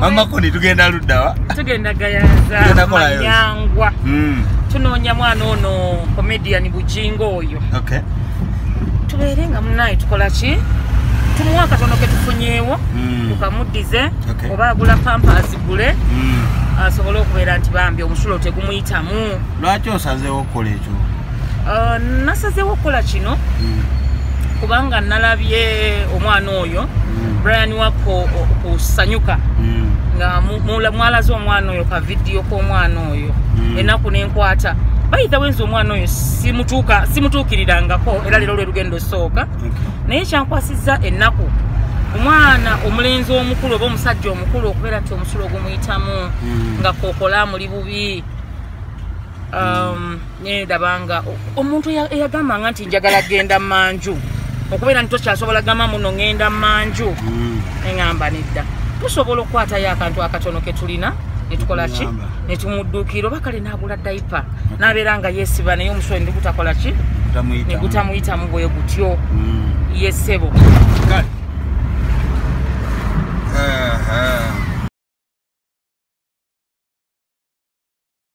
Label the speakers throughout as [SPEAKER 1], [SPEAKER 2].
[SPEAKER 1] amakoni tugenda luddawa tugenda gayaza
[SPEAKER 2] manyangwa
[SPEAKER 1] hmm.
[SPEAKER 2] tunoonya mwana ono comedian bujingo oyo
[SPEAKER 1] tubeere
[SPEAKER 2] nga munaye tukola ki tumuwa akatono ketufunyeewo hmm. tukamuddize oba agula pampa azigule hmm. asobole okubeera nti bambi omusulo tegumuyitamu lwaki osazeewo
[SPEAKER 1] okukola ekyo uh,
[SPEAKER 2] nasazeewo okukola kino mm. kubanga nalabye omwana oyo mm. brian wako kusanyuka mm. nga mwalaze omwana oyo ka vidiyo k'omwana oyo mm. enaku nenkwata bayitha wenza omwana oyo simutuukirirangako era leero lwe lugendo osooka naye kyankwasizza ennaku omwana omulenzi omukulu oba omusajja omukulu okubeera nti omusulo ogumuyitamu hmm. nga kokola muli bubi um, nedabanga omuntu eyagambanga nti njagala genda manju okubeera nti tokyasobola gamba muno ngenda manju hmm. neŋamba nedda tusobola okukwatayo akantu akatono ketulina netukolaki netumudduukira oba kale nagula daipa nabeera nga yesiba naye omusolo ndigutakolaki negutamuyitamu bwe gutyo hmm. yesebo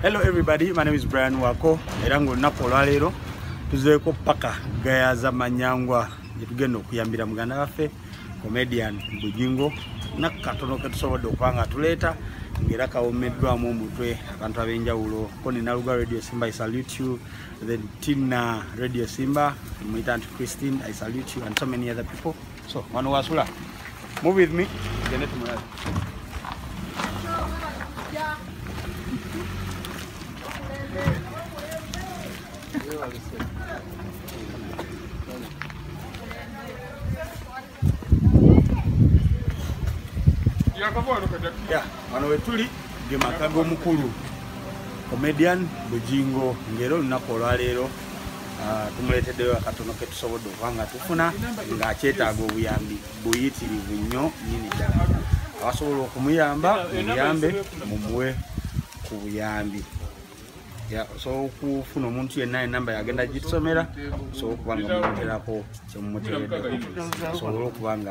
[SPEAKER 1] Hello everybody, my name is Brian Wako era nga olunaku olwaleero tuzeeko paka gayaza manyangwa gyetugenda okuyambira muganda waffe comedian Bujingo nakatono ketusobodde okuba nga tuleeta ngera kawomeddwamu omutwe abantu ab'enjawulo ko nina luga radio simba i salute you then tina radio simba muyita nti christine i salute you and so many other people So, wano wasula. Move with me. Gende tumulabe. Yeah, wano wetuli ge maka g'omukulu comedian Bujingo ng'era olunaku olwaleero Ah, tumuleeteddeyo akatono ke tusobodde okuba nga tufuna ng'akyetaaga obuyambi buyitirivu nnyo nyini ddala abasobola okumuyamba muyambe mumuwe ku buyambi osobola okufuna omuntu yenna enamba yagenda gitusomera osobola okuba nga mumuterako kyemumuteredde asobole okuba nga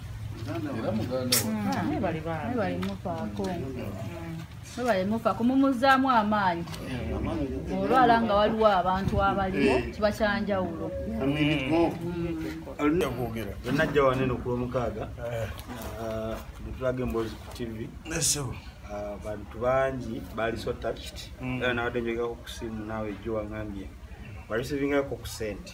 [SPEAKER 3] webalemufako mumuzaamu amaanyi olwala nga waliwo abantu abaliwo kiba kyanjawulo
[SPEAKER 4] alinakugera enajja wanene
[SPEAKER 1] okulwomukaaga netulaga eh. ah, emboozi ku tv ah,
[SPEAKER 4] bantu
[SPEAKER 1] bangi baali so touched mm. era nawadde njogako kusimu naawe ejjo wangambye wareceivingako ku sente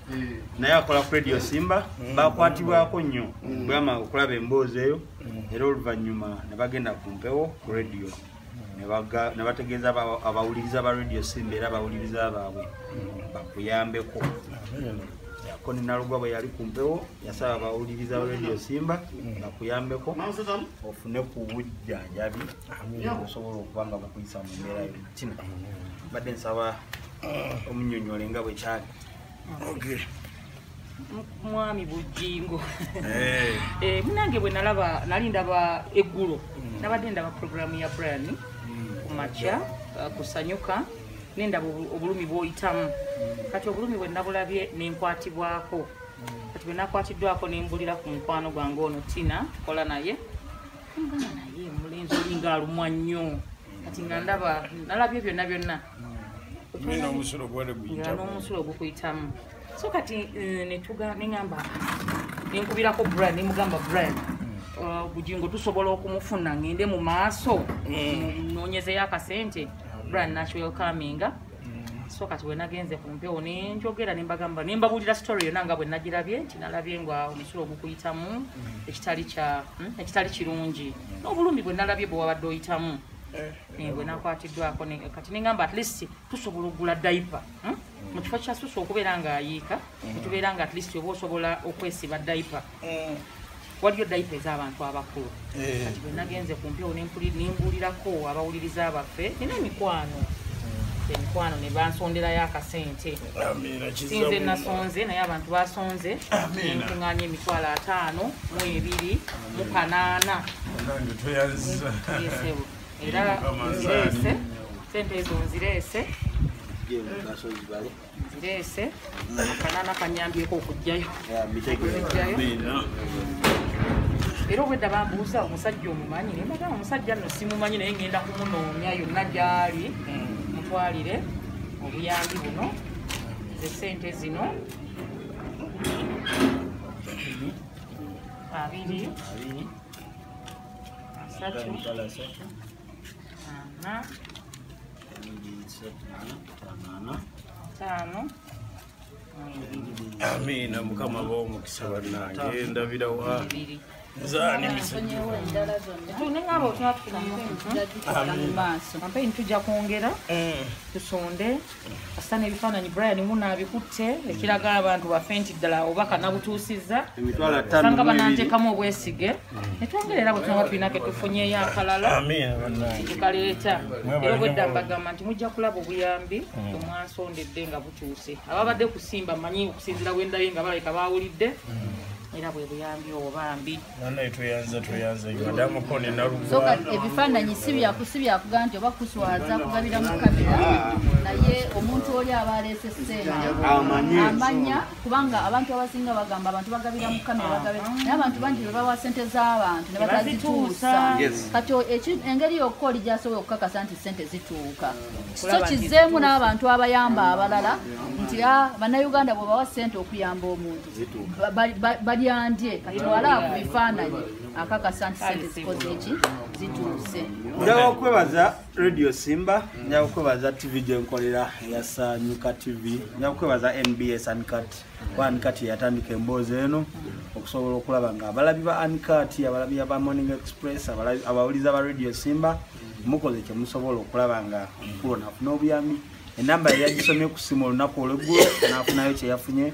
[SPEAKER 1] naye akola ku radio simba mm. bakwatibwako nnyo mm. bwama okulaba emboozi eyo mm. era oluvannyuma ne bagenda ku mpewo ku radio ne bategeeza abawuliriza ba radio simba era abawuliriza baabwe bakuyambeko ko nenalugwa bwe yali ku mpewo yasaba abawuliriza ba radio simba bakuyambeko ofune ku bujjanjabi osobola okuba nga bukuyisa mu mbeera yo kino mbadde nsaba omunyonyole nga bwe kyali
[SPEAKER 2] mwami bujingo eh. Eh, munange bwe nalaba nali ndaba eggulo mm. nabadde ndaba programu ya brian mm. kumakya uh, kusanyuka nendaba obulumi bwoyitamu mm. kati obulumi bwe nabulabye nenkwatibwako kati bwe nakwatiddwako nembulira ku mukwano gwange ono tina tukola naye naye mulenzi olinga alumwa nnyo kati nga ndaba nalabye byonna byonna nomusulo gwali guyitanomusulo gukuyitamu so kati eh, netuga neamba nenkubirako brian nemugamba brian hmm. uh, bugingo tusobola okumufuna ngende mu maaso hmm. nonyezeyo akasente hmm. brian nakiwelcominga so kati wenagenze ku mpewo nenjogera nembagamba nembabulira story yona nga bwenagirabye nti nalabye nga omusulo ogukuyitamu ekitali hmm, kirungi nobulumi bwenalabye bwewabadde oyitamu eh. nengwe nakwatiddwako kati nengamba at least tusobola okugula daipa hmm? mm. mu kifo kyasusa okubeera nga ayiika mm. netubeera nga at least oba osobola okwesiba daipa mm. waliyo daipa ez'abantu abakulu eh. kati bwe nagenze ku mpewo nembuulirako abawuliriza abaffe nina emikwano emikwano ne bansonderayo akasente sinze nasonze naye abantu basonze nkuŋanya emitwalo ataano mu ebiri mu kanaana era nzireese sente ezo nzireese nzireese akanana kanyambyeko okujjayo era obwedda bambuuza omusajja omumanyi nembaga omusajja no simumanyi naye ngenda kumunoonya yonna gyali mutwalire obuyambi buno ze sente zino abiri asatu ana
[SPEAKER 4] taano amiina mukama ba omukisa bannange ndabira wa nzaani misaamaaso
[SPEAKER 2] ampe nitujja kwongera eh. tusonde kasita n'ebifaananyi brian muna abikutte ekiraga abantu bafe nti ddala oba kanabutuusizza sanga bananteekamu obwesige netwongera era bwetunaba tulina ke tufunyeyo akalala tukaleeta era obwedda mbagamba nti mujja kulaba obuyambi mm. omwansondedde nga butuuse ababadde kusimba manyi okusinzira bwendabye nga balabika bawulidde mm. era bwe buyambi obwo bambi
[SPEAKER 4] ebifaananyi
[SPEAKER 3] sibyakuga nti oba kuswaza kugabira mu kamera naye omuntu oli aba aleese seenamanya kubanga abantu abasinga bagamba abantu bagabira mu kamera naye abantu bangi bebawa sente z'abantu ne batazituusa kati engeri yokka oli gyasobola okukakasa nti sente zituuka so kizeemu n'abantu abayamba abalala nti ah, bannayuganda bwebawa sente okuyamba omuntu balyandye kati wala ku bifaananyi akakasa nti sente zikoze eki zituuse njala okwebaza
[SPEAKER 1] radio simba njala okwebaza tv gyenkolera eyasanyuka tv njala okwebaza nbs ankat kuba ankat yeyatandika emboozi eno okusobola okulaba nga abalabi ba ankat abalabi aba morning express abawuliza ba radio simba mukoze kyemusobola okulaba nga omukulu nafuna obuyambi enamba yeyagisomye ku simu olunaku olweggulo nafunayo kyeyafunye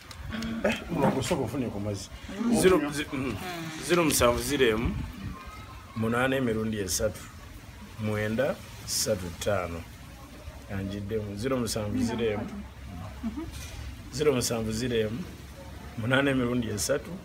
[SPEAKER 1] Eh, mulogosoka ofune ku mazzi ziro mm-hmm. musanvu ziro emu munaana
[SPEAKER 4] emirundi esatu mwenda satu ttaano anjiddemu ziro musanvu ziro emu mm-hmm. ziro musanvu ziro emu munaana emirundi esatu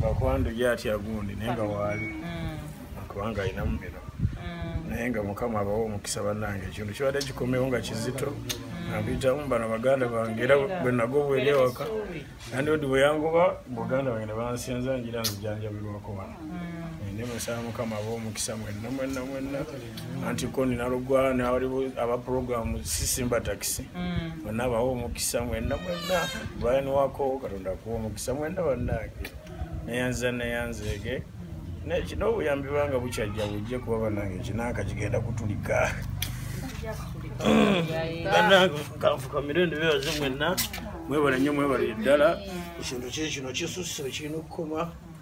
[SPEAKER 4] bakwanda oyo atya gundi naye nga waali kubanga alinamu bino naye nga mukama abawa omukisa bannange ekintu kibadde kikomewo nga kizito nampitamu bano baganda bange era bwe nagobwera ewaka nandiodi bwe yangoba buganda bange ne bansinza njira nzijanjabirwako wano ndi musaba mukama aba omukisa mwenna mwenna mwenna anti ko nina lugwa nawali aba programu sisimba takisi mwenna mm. abawa omukisa mwenna mwenna brian wako katonda akuwa omukisa mwenna bannange neyanza neyanzeege naye kino obuyambi banga bukyajja bujje kuba bannange kinanka kigenda kutulika bannange kanfukamire ndibebaze mwenna mwebale nnyo mwebale ddala ekintu kye kino kisusse kirina okukoma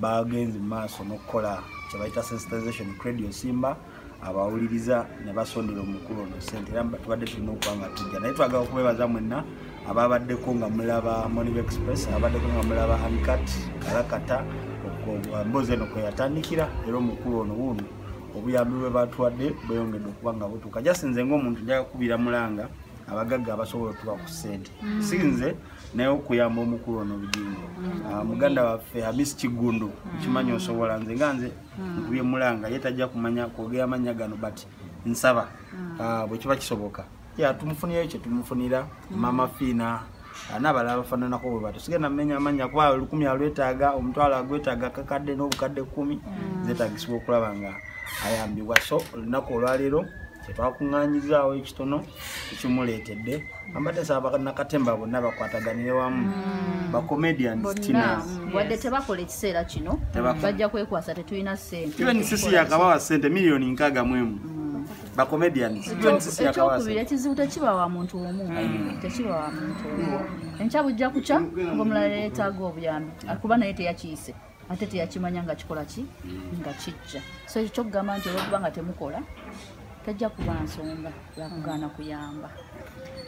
[SPEAKER 1] bagenze mu maaso n'okukola kyebayita sensitization credio simba abawuliriza ne basondera omukulu ono sente era tubadde tulina okuba nga tujja naye twagala okubebaza mwenna ababaddeko nga mulaba monive express ababaddeko nga mulaba ancat kalakata emboozi eno kweyatandikira era omukulu ono wuuno obuyambi bwe batuwadde bweyongedde okuba nga butuuka jasinze ngaomuntu njaga kubira mulanga abagagga abasobola otuwa ku sente mm. sinze mm. naye okuyamba omukulu ono bugingo mm. ah, muganda waffe hamis kiggundu mm. kimanyi osobola nze nga nze mm. nkubye mulanga ye tajja kumanya kwogera amannya gano but nsaba ah, bwe kiba kisoboka ya tumufunirayo kye tumufunira mama fiina ah, nabalala abafananako bwe bato sigenda mumenya amannya kuba olukumi alwetaaga omutwalo agwetaaga kakadde n'obukadde kkumi zetagisibwa okulaba nga ayambibwa so olunaku olwaleero kyetwakuŋŋanyizaawo ekitono ekimuleetedde ambadde saba nakatemba bonna bakwataganire wamu mm. bacomedianwadde mm. tebakola
[SPEAKER 3] ekiseera kino bajja kwekwasa tetulina sentesi yakabawa
[SPEAKER 1] sente miliyoni nkaaga mu emu mm. bacomedianekyokubiira
[SPEAKER 3] ekizibu tekiba wa muntu omu tekiba wa muntu omu enkya bujja kukya ngaomulala yetaaga obuyambi akuba naye teyakiyise ate teyakimanya nga kikola ki mm. nga kijja so ekyo kyokugamba nti olwokuba nga temukola tajja kuba nsonga yakugaana kuyamba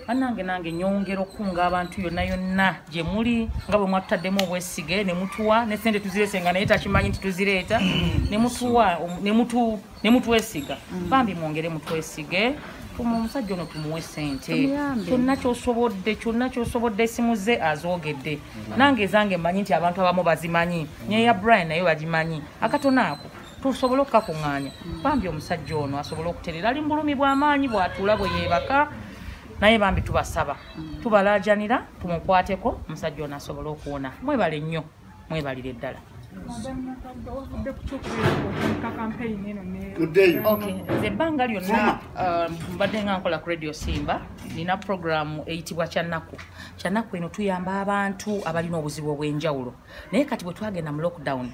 [SPEAKER 3] banange
[SPEAKER 2] nange nyongera okukunga abantu yonna yonna gye muli nga bwe mwatutaddemu obwesige ne mutuwa ne sente tuzireese nga naye takimanyi nti tuzireeta mm. ne mutuwa ne mutu ne mutwesiga mm. bambi mwongere mutwesige tuma omusajja ono tumuwe sente kyonna kyosobodde kyonna kyosobodde esimu ze azoogedde mm. nange ezange mmanyi nti abantu abamu bazimanyi mm. neya brian naye bagimanyi akatona ako tusobole okukakuŋŋaanya bambi omusajja ono asobole okuterera ali mubulumi bw'amaanyi bwatuula bwe yeebaka naye bambi tubasaba tubalaajanira tumukwateko omusajja ono asobole okuwona mwebale nnyo mwebalire ddala nze ebbanga lyonna uh, mbadde nga nkola ku radio simba nina puroguramu eyitibwa kyanaku kyanaku eno tuyamba abantu abalina obuzibu obw'enjawulo naye kati bwe twagenda mu lockdown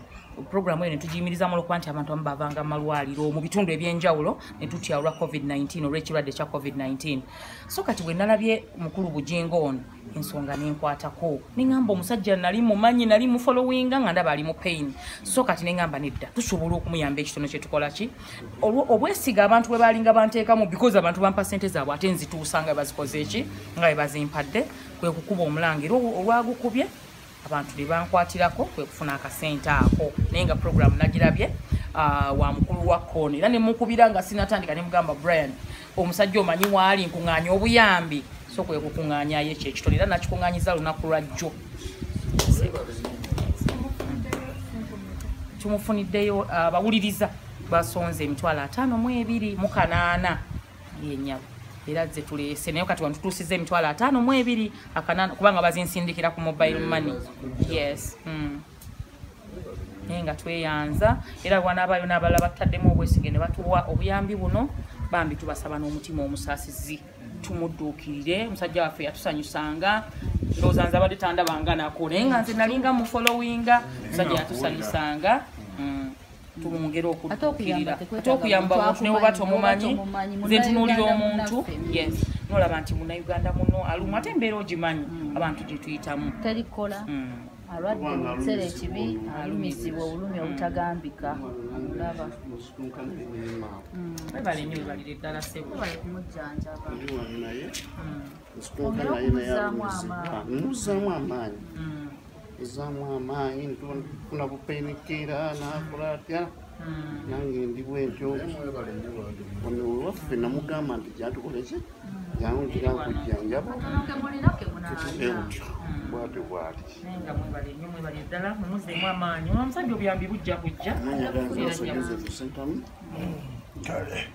[SPEAKER 2] puroguramu eyo netugiyimirizamu olwokuba nti abantu amu bavanga mu malwaliro mu bitundu eby'enjawulo ne tutya olwa covid-19 olw'ekirwadde kya covid-19 so kati bwe nalabye mukulu bujingo ono ensonga nenkwatako neŋamba omusajja nali mumanyi nali mufolowinga nga ndaba ali mu pain so kati neŋamba nedda tusobola okumuyamba ekitono kyetukola ki obwesiga abantu bwe balinga banteekamu because abantu bampa sente zaabwe ate nzituusa nga bazikoze eki nga bebazimpadde kwe kukuba omulanga era olwagukubye abantu be bankwatirako kwe kufuna akasente ako naye nga puroguramu nagirabye ah, wa mukulu wa kooni era nemukubira nga sinatandika nemugamba brian omusajja omanyi waali nkuŋŋaanya obuyambi so kwe kukuŋŋaanyayo ekyo ekitone era nakikuŋŋaanyiza lunaku lwa jjo tumufuniddeyo ah, abawuliriza basonze emitwalo ataano mu ebiri mu kanaana yenyabo era ze tulese naye kati wantutuusiza emitwalo ataano mu ebiri akanana kubanga bazinsindikira ku mobile money yes mm. naye nga tweyanza era wanaabayo n'abalala bataddemu obwesige ne batuwa obuyambi buno bambi tubasaba n'omutima omusaasizi tumudduukirire omusajja waffe yatusanyusanga ndowooza nze abadde tandabanga nako naye nga nze nalinga mufolowinga omusajja yatusanyusanga tumwongere okukkirira ate okuyamba omuntu ne bwoba tomumanyi nze ntunuulira omuntu yes nolaba nti munauganda muno alumu ate embeera ogimanyi mm. abantu gye tuyitamu terikola mm.
[SPEAKER 3] alwadde omuseera ekibi alumizibwa obulumi mm. obutagambika olaba
[SPEAKER 2] webale nyo webalire eddala sebwebale kumujjanjaba
[SPEAKER 3] ongere
[SPEAKER 5] okumuzaamu amaanyi ezaamu amaanyi nfuna bupenikera nakola atya hmm. nange ndi bwentyo ono wewaffe namugamba nti gyatukoleki jangu ngira nkujjanjaba eutyo bwatyo bwati
[SPEAKER 2] omusajja obuyambi
[SPEAKER 5] bujja kujja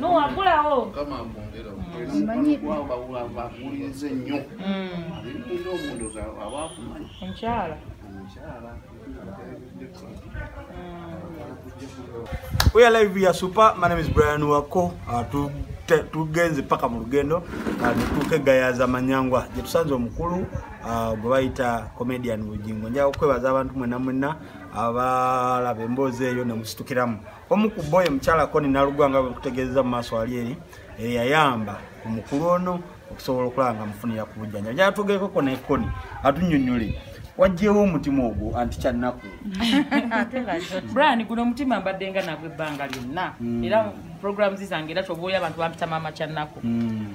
[SPEAKER 2] nowagulawo
[SPEAKER 5] bakuwulirize nnyo alinga omuntu aba
[SPEAKER 2] akumanyi
[SPEAKER 1] omukyala We are live here super. My name is Brian Wako. Uh, to tugenze paka mu lugendo uh, netuuka egayaza manyangwa gyetusanze omukulu uh, gwe bayita comedian bugingo njaga okwebaza abantu mwena mwena abalaba emboozi eyo nemusitukiramu omu ku boyo mukyala koni nalugwa nga bwekutegeeza mu maaso ali eri eyayamba ku mukulu ono okusobola okulaba nga mufunira ku bujjanja gyatugeekoko nekoni atunyonyole wajjewo omutima ogwo anti kyannaku
[SPEAKER 2] brian guno omutima mbadde nga nagwe ebbanga lyonna hmm. era programs zange era kyoba oli abantu bampitama amakyannaku hmm.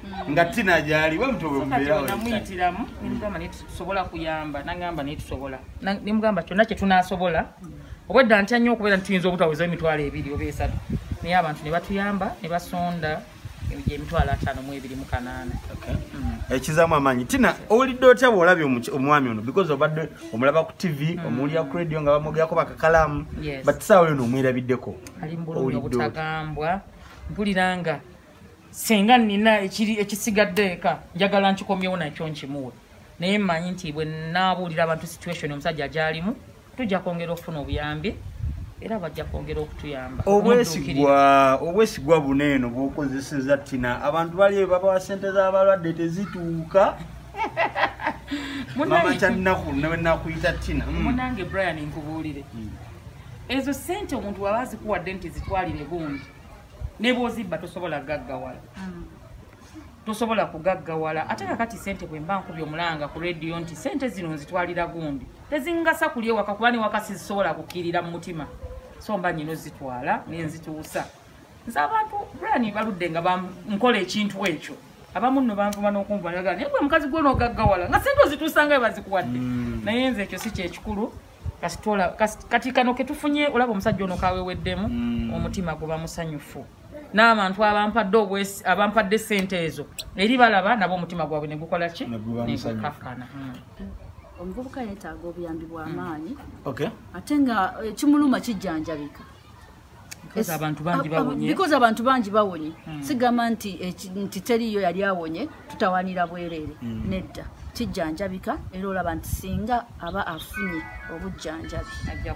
[SPEAKER 1] nga tina gyali wemutowemubeeranamuyitiramu nemugamba
[SPEAKER 2] naye tusobola kuyamba nagamba naye tusobola nemugamba kyonna kye tunasobola obwedda ntya nnyo okubeera nti tuyinza obutaweza emitwalo ebiri oba esatu naye abantu ne batuyamba ne basonda emitwalo ataano mu ebiri mu kanaana mm. ekizaamu
[SPEAKER 1] amaanyi tina owulidde otya bwolabye omwami ono because obadde omulaba ku tv mm. omuwulira ku radio nga bamwogerako bakakalaamu but saawa yona omwerabiddeko ali mu bulumi
[SPEAKER 2] obutagambwa mpulira nga singa nina ekiri ekisigadde eka njagala nkikomyewo nakyo nkimuwe naye mmanyi nti bwe naabuulira abantu situation omusajja gyalimu tujja kwongera okufuna obuyambi era bajja kwongera okutuyamba obwesigwa
[SPEAKER 1] obwesigwa buno eno bwokozeseza tina abantu bali babawa sente z'abalwadde tezituuka mama kyannaku nawe nakuyita tina hmm. munange brian
[SPEAKER 2] nkubuulire hmm. ezo sente omuntu waba azikuwadde nti zitwalire gundi nebwozibba tosobola gaggawala mm. tosobola kugaggawala ate kakati sente bwemba nkubye omulanga ku rediyo nti sente zino nzitwalira gundi tezingasa kuli ewaka kuba newaka sizisobola kukirira mu mutima so mba nyina ozitwala nenzituusa nze abantu brani baludde nga nkola ekintu ekyo abamu nno banvuma n'okunvuma naye gwe mukazi gwonogaggawala nga sente ozituusangayo bazikuwadde mm. naye nze ekyo si kyekikulu kasitola kati kano ketufunye olaba omusajja ono kaweweddemu mm. omutima guba musanyufu n'abantu abampadde obwesi abampadde sente ezo eri balaba nabo omutima gwabwe negukola ki negukakana mm.
[SPEAKER 3] omuvubuka yetaaga obuyambi bwamaanyi mm. ate
[SPEAKER 1] nga ekimuluma
[SPEAKER 3] eh, kijjanjabika
[SPEAKER 2] because abantu bangi bawonye because abantu bangi bawonye hmm. sigamba nti eh, nti teriyo yali awonye tutawanira bwerere hmm. nedda kijjanjabika era olaba nti singa aba afunye obujjanjabi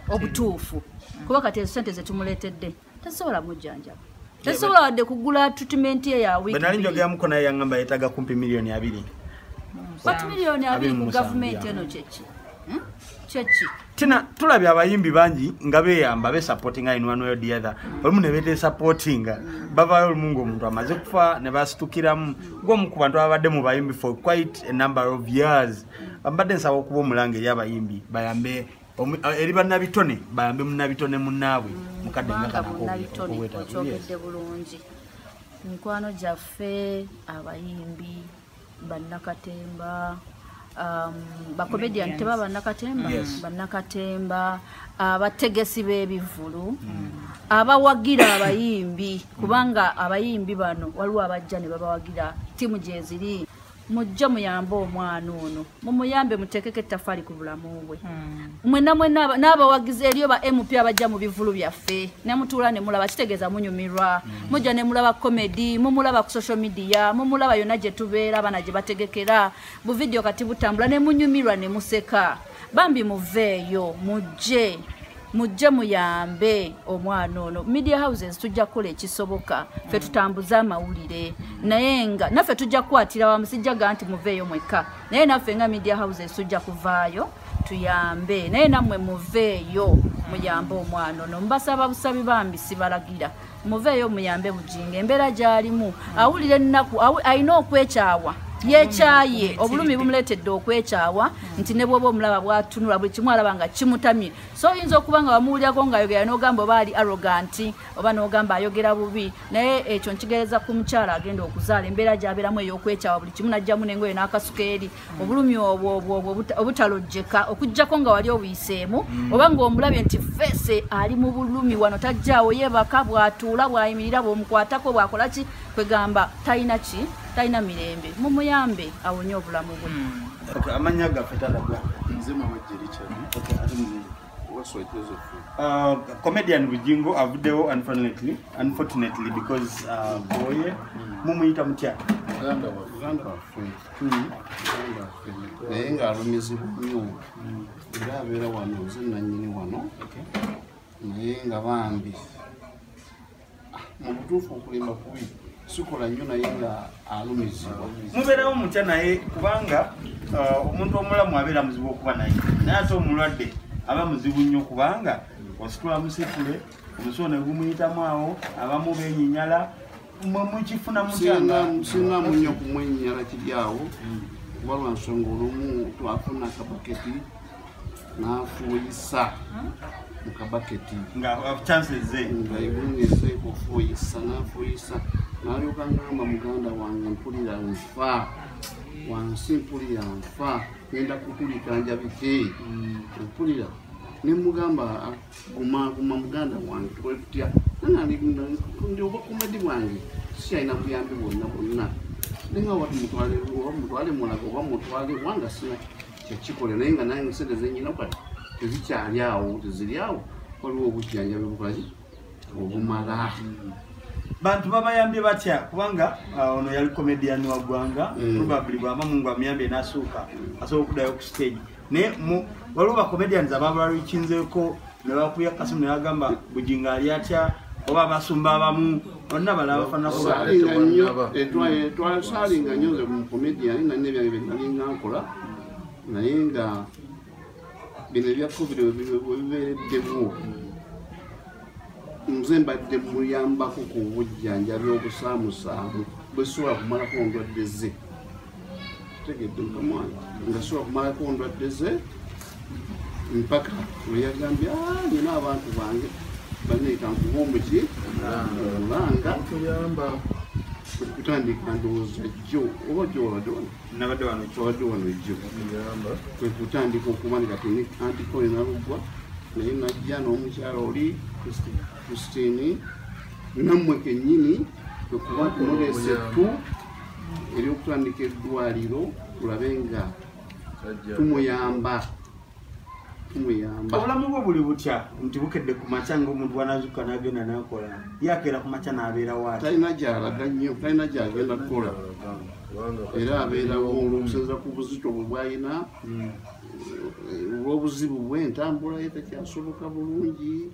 [SPEAKER 2] obutuufu hmm. kuba kati ezo sente zetumuleetedde tasobola mujjanjaba tasobola wadde kugula treatment ye ya wiknali njogeamuko naye yangamba
[SPEAKER 1] yetaga kumpi miliyoni abiri but
[SPEAKER 3] miliyoni abiri mu gavumenti eno kyeki kyeki tina
[SPEAKER 1] tulabye abayimbi bangi nga beyamba besapotinga in one way or the other olumu ne betesapotinga bavayo olumu nga omuntu amaze kufa ne basitukiramu gwomu ku bantu ababadde mu bayimbi for quite a number of years bambadde nsaba okuba omulanga eri abayimbi bayambe eh, eri banabitone bayambe munabitone munaabwe mukadde ngakanakowetaakyogedde
[SPEAKER 3] bulungi mikwano gyaffe abayimbi bannakatemba um, bakomedian teba bannakatemba bannakatemba abategesi b'ebivvulu mm. abawagira abayimbi kubanga abayimbi bano waliwo abajja ne babawagira ttiimu gyeziri mujja muyambe omwana ono mumuyambe muteekeko ettafaali ku bulamu bwe mm. mwena mwena n'abawagizi eriyo ba mp abajja mu bivulu byaffe nemutuula nemulaba kitegeeza munyumirwa mm. mujja nemulaba comedy mumulaba ku social media mumulaba yonna gye tubeera abaana gye bategekera buvidiyo kati butambula nemunyumirwa nemuseka bambi muveeyo mujje mujje muyambe omwana ono media houses tujja kukola ekisoboka fe tutambuze amawulire naye nga naffe tujja kukwatira wamu sijjaga nti muveeyo mwekka naye naffe nga media houses tujja kuvaayo tuyambe naye namwe muveeyo muyambe omwana ono mubasaba busabi bambi sibalagira muveeyo muyambe bujinga embeera gyalimu awulira ennaku alina okwekyawa yekyaye obulumi bumuletedde okwekyawa nti ne bwoba omulaba bwatunula buli kimu alaba nga kimutamye so oyinza okuba nga wamuwulirako ngaayogera nogamba oba ali aroganti oba nogamba ayogera bubi naye ekyo nkigereza ku mukyala agenda okuzaala embeera gyabeeramu eyokwekyawa buli kimu najjamu nengoyo n'akasuka eri obulumi obwo obwo obutalojjeka okujjako nga wali obuyiseemu mm. oba ng'omulabye nti feese ali mu bulumi wano tajjaawo yeebaka bw'atuula bw'ayimirira bw'omukwatako bw'akola ki kwegamba talina ki talina mirembe mumuyambe awonye obulamu bwe mm. amanya gaffe talagwa
[SPEAKER 1] nze
[SPEAKER 5] mawejjerikyani Uh,
[SPEAKER 1] comedian Bujingo avuddewo unfortunately unfortunately because uh, boye mm. mumuyita mutya
[SPEAKER 5] naye ng'alumizibwa nnyo era abeera wano nze nannyini wano naye nga bambi ah, mu butuufu okulimba kubi sikola nnyo naye nga alumizibwa mubeerawo mutya
[SPEAKER 1] naye kubanga uh, omuntu omulamu abeera muzibu okuba naye naye ate omulwadde aba muzibu nnyo kubanga ositula musitule omusono egumuyitamu awo abamu benyinyala mwe mukifuna mukyanasinga
[SPEAKER 5] munya kumwenyala kiryawo kuba lwansonga olumu twafuna kabaketi nafuuyisa mukabaketi
[SPEAKER 1] ngaibungeze
[SPEAKER 5] kufuuyisa nafuuyisa nalyoka ngamba muganda wange mpulira nfa wansi mpulira nfa ngenda kukulika njabike mm. mpulira nemugamba ah, guma guma muganda wange tukole tutya nanange ndi obakumadi bwange sikyalina buyambi bwonna bwonna nenga wati mutwale oba mutwale mulaga oba mutwale wanga sina kyekikola naye nga nange sente zenyina kati tezikyali awo teziri awo waliwo obujjanjabi bukazi obumala
[SPEAKER 1] bantu babayambye batya kubanga uh, ono yali comedian wa ggwanga mm. probably bwaba mungu amuyambye nasuuka asobola okudayo ku stage naye waliwo bacomedians ababalalikinzeeko nebakuya kasimu neyagamba bujinga ali atya oba abasumba abamu olina bala bafanatwasalinga
[SPEAKER 5] nyo nze mucomedian nalina ebyange byenalinga nkola naye nga bino ebya covid webibeereddemu nze mbadde muyambako ku bujjanjabi obusaamusaamu bwesobola kumalako ndwadde ze kitegedde mukamwana nga sobola kumalako ndwadde ze mpaka weyagambye ah, nyina abantu bange baneeta nkuba omuki olanga kutandika ndowooza jjo oba gyobadde wano nabadde wano kyobadde wano jjo kwe kutandika okuba nga teni antikoye naluggwa naye najja n'omukyala oli christine nammwe kennyini okuba tulonesa ettu eryokutandika eddwaliro tulabe nga tumuyamba
[SPEAKER 1] tumuyamba obulamu bwo buli butya nti bukedde ku makya ngaomuntu bwanazuka nagenda nakola yakeera ku makya nabeera waati talina gyalaga nnyo
[SPEAKER 5] talina gyagenda kukola era abeerawo okusinzira ku buzito bwe bwalina hmm. olw'obuzibu bwe entambula ye tekyasoboka bulungi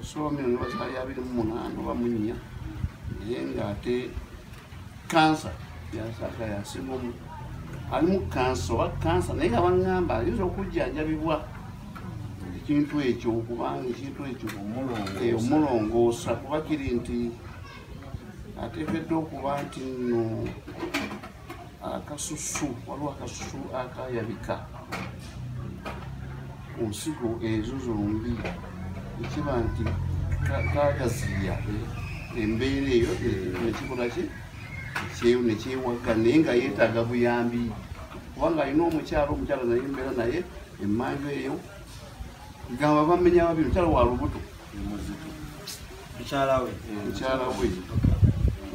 [SPEAKER 5] esoomiro ne bazaali abiri mu munaana oba mu nnya naye ng'ate kansa yasaaka yasinga omu ali mu kansa oba kansa naye nga baŋŋamba ayinza okujjanjabibwa ekintu ekyo okubanga ekintu ekyo omulongoosa eh, kuba kiri nti ateekeddwa okuba nti no akasusu waliwo akasusu akayabika ku nsigo ezo zombi ekiba nti kagaziya embeera eyo nekikola ki nekyewagga naye nga yeetaaga buyambi kubanga alina omukyalo omukyalo naye embeera naye emanju eyo gamba bamenya babiri mukyalo wa lubuto mukyala we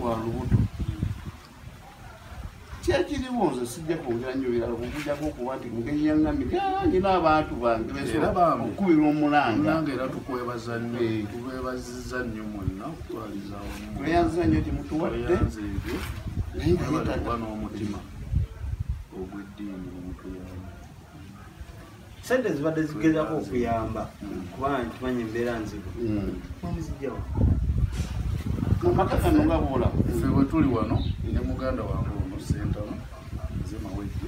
[SPEAKER 5] wa lubuto kyekiriwo nze sijja kwogera nnyo birala okugujako okuba nti mugeri yaŋŋamye nyina abantu bange okukubira omulangaanga era tukwebaza
[SPEAKER 6] nnyo eh. tubebaziza nnyo mwenna okutwaliza weyanza nnyo
[SPEAKER 5] gyemutuwadde nayeoba n'omutima
[SPEAKER 6] ogw'eddiini omutuyamba
[SPEAKER 1] sente zibadde zigezako okuyamba kuba nkimanyi embeera nzibu mumuzijjawo
[SPEAKER 5] amakakanogabuula fe wetuli wano
[SPEAKER 6] ne muganda wange ono sentano nze mawejje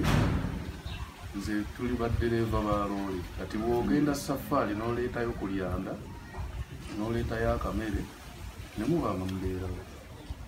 [SPEAKER 6] nze tuli baddereeva ba loole kati bwogenda safaali noleetayo ku lyanda noleetayo akamere ne muba nga mubeerawo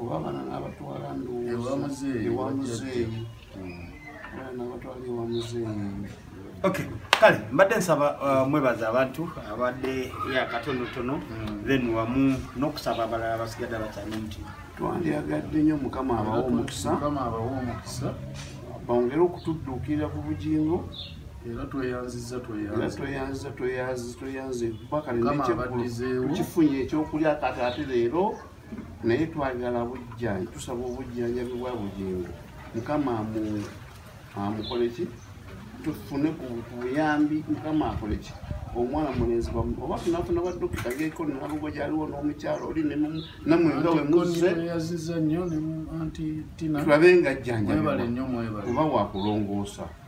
[SPEAKER 5] oba abana nabatwala ndowozaewamuzeeyi nabatwala ewa muzeeyi ok
[SPEAKER 1] kale mbadde nsaba uh, mwebaza abantu abadde yakatonotono hmm. then wamu nokusaba abalala basigadde abakyalina omutima twandyagadde nyo
[SPEAKER 5] mukama abawa omukisa bongere okutudduukirira ku bugingo era
[SPEAKER 6] tweyanziza tweyanziza tweyanziza tweyanziza
[SPEAKER 5] bakalenekyekulu tukifunye ekyokulya kati ate leero naye twagala bujjanjabi tusaba obujjanjabi bwa bugingo mukama amukoleki tufune ku buyambi mukama akoleki omwana mulenzi wamu oba tunafuna badokita geko nalugo gyaliwo n'omukyalo oli namwe nga wemuzzetulabe nga jjanjaoba wakulongoosa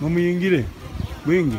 [SPEAKER 1] mumuyingire mwingi